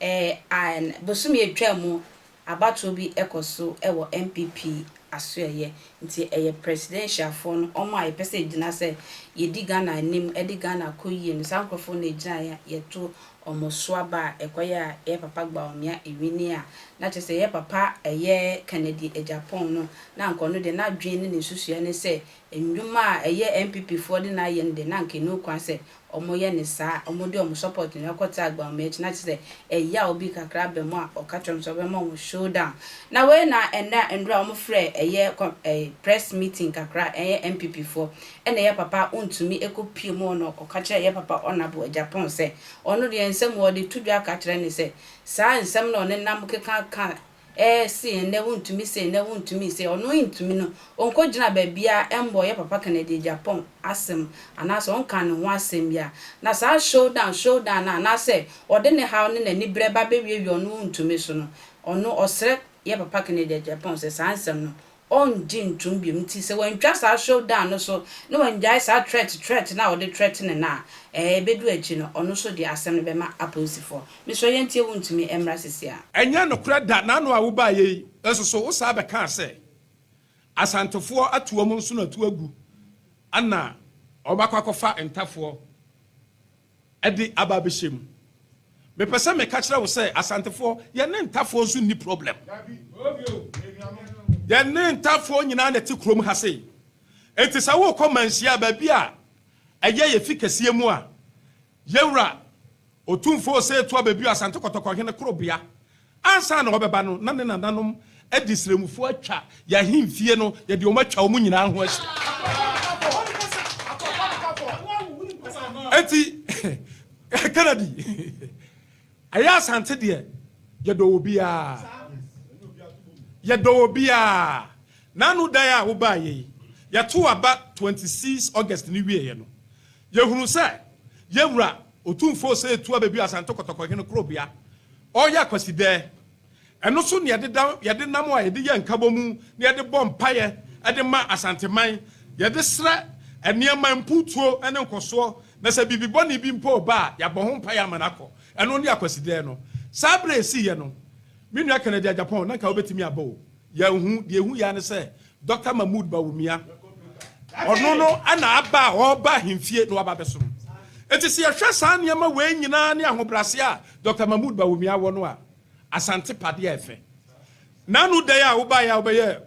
AN, bosome a ɛtwaa mu abatoɔ bi kɔ so wɔ NPP asoɛeɛ nti ɛyɛ presidentialfoɔ no wɔn a yɛpɛ sɛ yɛgyina sɛ yɛdi Ghana anim de Ghana kɔ yie no saa nkorɔfoɔ no na ɛgyinaeɛ a yɛto wɔn so aba a ɛkɔyɛ a ɛyɛ papa Bawumia ɛwini a na kyerɛ sɛ ɛyɛ papa ɛyɛ Kennedy Agyapong no na anka ɔno deɛ n'adwene ne ne nsusuiɛ ne sɛ nnwuma a ɛyɛ NPPfoɔ de no ayɛ no deɛ na anka ɛnni ho kwan sɛ ɔmo yɛ no saa, ɔmo de ɔmo support nyinaa kɔ tse agba ɔmo ekyi na kyesɛ ɛyaw bi kakra aba mu a ɔka kyerɛ ɔmo sɛ ɔbɛma ɔmo show down. Na wei na ndɛ a ndura ɔmo frɛ ɛyɛ kɔ ɛɛ press meeting kakra ɛyɛ NPP foɔ ɛna yɛ papa ontumi ekɔ pie mu hɔ na ɔka kyerɛ yɛ papa Ɔnabo Agyapong sɛ ɔno deɛ nsɛm ɔde to dwa ka kyerɛ no sɛ saa nsɛm na ɔnenam keka ka Eh se nnɛ wontumi se nnɛ wontumi se ɔno ntumi no ɔnkɔ gyina baabia ɛmbɔ yɛ papa Kennedy Agyapong asem anaasɛ ɔnka ne ho asem bia na saa show down show down no anaasɛ ɔde ne haw ne nani berɛ ba bɛwiawia ɔno wontumi so no ɔno ɔsrɛ yɛ papa Kennedy Agyapong sɛ saa nsem no ɔrengye ntom bio nti sɛ wantwa saa show down no so na wangyae saa threat threat no a ɔde threatene no a, ɛɛ ɛbɛdu akyi no ɔno nso de asɛm no bɛma apolisifoɔ. Mesrɛ yɛntie wo ntumi mmra sisi a. Ɛnyɛ nokorɛ da, n'ano a wobaeɛ yi nso so wo saa bɛkaa sɛ Asantefoɔ atu wɔn nsono atu agu ɛna wɔn akɔ akɔfa ntafoɔ Ɛde aba abɛhyɛ mu. Mepɛ sɛ meka kyerɛ wo sɛ Asantefoɔ, yɛne Ntafoɔ nso nni problem. Yɛne Ntafoɔ nyinaa na ɛte kurom ha sei. Enti sɛ worekɔ Manhyia, baabi a ɛyɛ yɛn fi kɛseɛ mu a, Yɛwura Otumfoɔ Osei Tuah Bebio Asante Kɔtɔkɔhene korobea Ansa na ɔbɛba no, na ne nananom de srangufoɔ atwa yɛn ahemfie no, yɛde wɔn atwa wɔn nyinaa ho ahyia. Enti, Kennedy, ɛyɛ Asante deɛ, yɛdɔ obiara. Yɛdɔ obiara. N'ano dan a wobaeɛ yi, yɛto aba 26 August no wieeɛ no, Yɛhunu sɛ yɛn Wura Otumfoɔ Osei Tuah bɛduu Asante Kɔtɔkɔ Hene Korobea, ɔreyɛ Akwasidɛɛ. Ɛno so na yɛde da, yɛde nam a yɛde yɛ nkabɔmu na yɛde bɔ mpaeɛ de ma Asanteman, yɛde srɛ nneɛma, mpuutuo ne nkɔsoɔ, na sɛ biribi bɔne bi mpo reba a, yɛabɔ ho mpaeɛ ama no akɔ. Ɛno ne Akwasidɛɛ no. Saa berɛ a ɛsiiɛ no, me nua Kennedy Agyapong, na nka wobɛtumi aba o. Yɛnhu, deɛ ɛhu yɛ ara ne sɛ Dɔkta Mahmood Bawumia, ɔno no na aba a ɔreba ahemfie na waba abɛsom. Enti sɛ yɛhwɛ saa nneɛma wei nyinaa ne ahobrɛaseɛ a Dɔkta Mahmood Bawumia wɔ no a, Asante pa deɛ ɛfɛ. N'ano dɛn a wobaeɛ a wobɛyɛ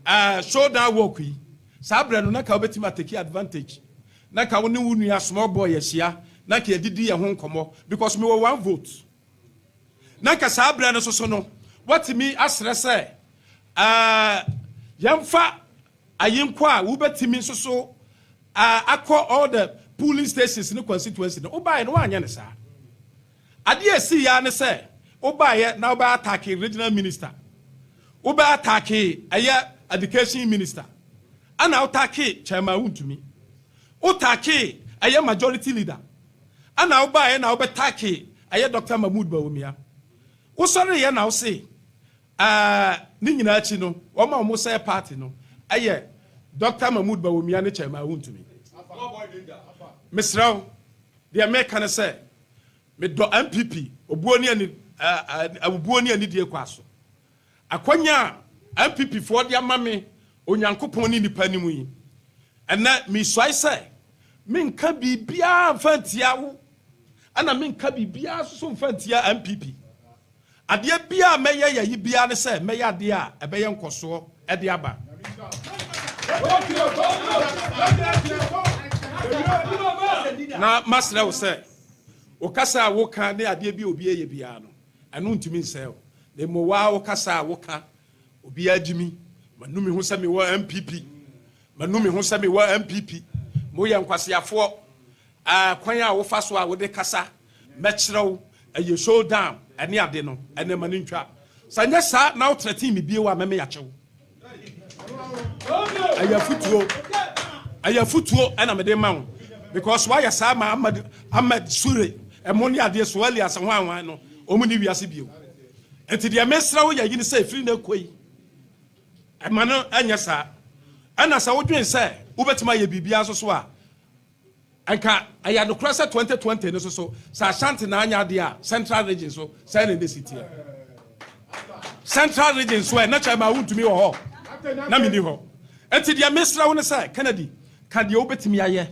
eh, shoulder work yi, saa berɛ no na nka wobɛtumi ateki advantage. Na nka wo ne wo nua small boy ahyia, na nka yɛdidi yɛn ho nkɔmmɔ because mewɔ one vote. na nka saa berɛ no soso no woatumi asrɛ sɛ yɛmfa ayenkɔ a wobɛtumi soso akɔ all the polling stations ne constituency no wobaeɛ no woanyɛ ne saa adeɛ a ɛsii yɛ ne sɛ wobaeɛ na wobɛ atake regional minister wobɛ atake ɛyɛ education minister ana wotake chairman wontumi wotake ɛyɛ majority leader Ana wobaeɛ na wobɛtake ɛyɛ Doctor Mahmood Bawumia? Wosɔreeɛ na wose ɛɛ ne nyinaa akyi no wɔn a wɔn sɛɛ party no ɛyɛ Doctor Mahmood Bawumia ne Chairman Wontumi. Mesrɛ wo deɛ meka ne sɛ medɔ NPP obuo ne ani ɛɛ obuo ne anidie kɔ aso Akwanya a NPP foɔ de ama me Onyankopɔn ne nnipa anim yi, ɛnnɛ mesuae sɛ menka biribiara mfa ntia wo ɛna menka biribiara nso so mfa ntia NPP. Adeɛ biara a mɛyɛ yɛ yi biara ne sɛ mɛyɛ adeɛ a ɛbɛyɛ nkɔsoɔ de aba. Na masrɛ wo sɛ, wo kasa a woka ne adeɛ bi a obi reyɛ biara no, Ɛno ntumi nsɛe wo. Na mmom wo ara wo kasa a woka. Obiara gye mi. Manu me ho sɛ mewɔ NPP. Manu me ho sɛ mewɔ NPP. Moyɛ nkwaseafoɔ. Ɛɛ kwan a wofa so a wode kasa, mɛkyerɛ wo. Ɛyɛ showdown ne ade no. Ɛnɛ ma no ntwa. Sɛ nyɛ saa na wo threaten me bio a, mɛmeyakye wo. ɛyɛ afutuo ɛyɛ afutuo ɛna mede ma wo because wayɛ saa ma ahmed ahmed sure ɛmo ne adeɛ so alias ho anwan no ɔmu ne wiase bio nti deɛ mesrɛ wo yɛ yi ne sɛ ɛfiri no ɛkɔ yi ɛma no ɛnyɛ saa ɛna sɛ wodwen sɛ wobɛtumi ayɛ biribiara so so a Anka ɛyɛ nokorɛ sɛ twenty twenty no so so sɛ Ashanti na anyɛ adeɛ a central region so sɛn na ɛbɛsi teɛ? Central region so ɛ na kyɛ ma wontumi wɔ hɔ na menni hɔ. Enti deɛ mesrɛ wo ne sɛ Kennedy ka deɛ wobɛtumi ayɛ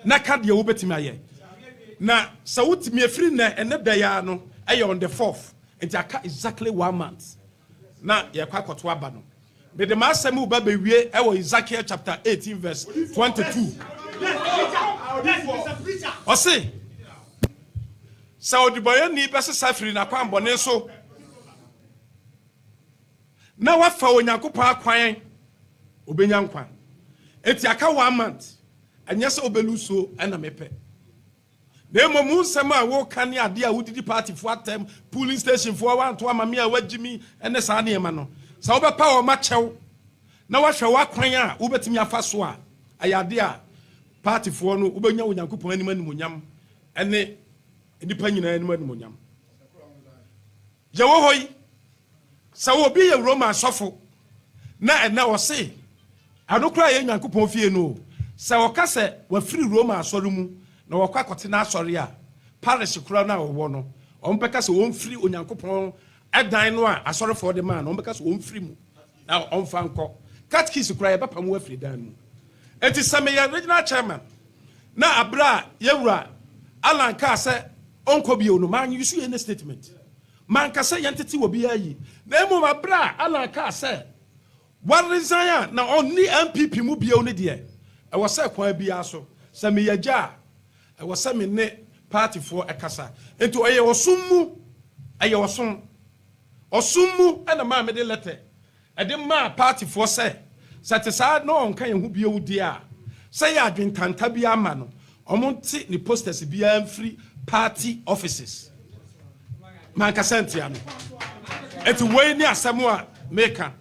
na ka deɛ wobɛtumi ayɛ na sɛ wotumi ɛfiri nnɛ ɛnnɛ da yi ara no ɛyɛ on the fourth nti aka exactly one month na yɛkɔ akɔto aba no. Mede m'asɛm reba bewie wɔ Hesekiel chapter eighteen verse twenty two. Ɔse, Sɛ ɔdebɔneyɛni bɛsesa firi n'akwammɔne so na wafa Onyankopɔn akwan a, obenya nkwa. Enti aka one month, ɛnyɛ sɛ wobɛlusuo na mepɛ. Na mmom wo nsɛm a woka ne adeɛ a wodidi paatifoɔ atɛm, polling stationfoɔ a woanto ama me a woagye me ne saa nneɛma no, sɛ wobɛpa wɔn akyɛ wo na woahwɛ w'akwan a wobɛtumi afa so a, ɛyɛ adeɛ a paatifoɔ no wobɛnya Onyankopɔn anim animuonyam ne nnipa nyinaa anim animuonyam. Yɛwɔ hɔ yi. Sɛ obi yɛ Roma sɔfo na ɛnnɛ ɔse ɛno koraa yɛ Nyankopɔn fie no o, sɛ ɔka sɛ wafiri Roma asɔre mu na wakɔ akɔte n'asɔre a parish koraa no a ɔwɔ no, wɔbɛka sɛ ɔmfiri Onyankopɔn dan no a asɔrefoɔ de maa no, wɔbɛka sɛ ɔmfiri mu na ɔmfa nkɔ. Catechist koraa yɛbɛpamo wo afiri dan no mu. Enti sɛ meyɛ Regional Chairman na aberɛ a Yɛwura Allan kaa sɛ ɔnkɔ bio no, ma use any statement. Manka sɛ yɛntete obiara yi, na mmom bere a Alan kaa sɛ waresign a na ɔnni NPP mu bio no deɛ, ɛwɔ sɛ kwan biara so, sɛ meyɛ agya a, ɛwɔ sɛ me ne partyfoɔ kasa. Enti ɔyɛ ɔsom mu, ɛyɛ ɔsom. Ɔsom mu na maa mede lɛtɛ. de maa paatifoɔ sɛ, sɛ ɛte saa na ɔnka yɛn ho bio deɛ a, sɛ yɛ adwene tanta biara ma no, wɔnte ne posters biara mfiri party offices. Mankasa antia no. Enti wei ne asɛm a meka.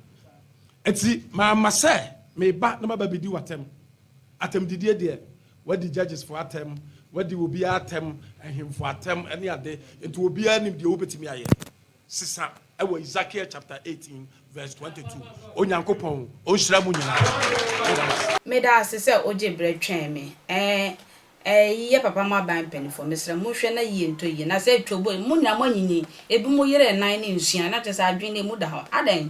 Enti mamma sɛ meba na maba bɛdi w'atɛm. Atɛmdidie deɛ, wɔadi judgesfoɔ atɛm, wɔadi obiara atɛm, ahemfo atɛm ne ade, enti obiara nim deɛ wobɛtumi ayɛ. sesa ɛwɔ Ezekiel chapter eighteen verse twenty two Onyankopɔn ɔnhyira mo nyinaa. Meda ase sɛ wogye berɛ twɛn me. Ɛɛ Ɛyi yɛ papa mo aban mpaninfoɔ. Mesrɛ mo hwɛ na yie ntɔ yie. Na sɛ ɛtwa obo yi, mo nyinaa mo anyinyin. Ebinom yere nan ne nsuan. Na kyerɛ sɛ adwene no emu da hɔ. Adɛn?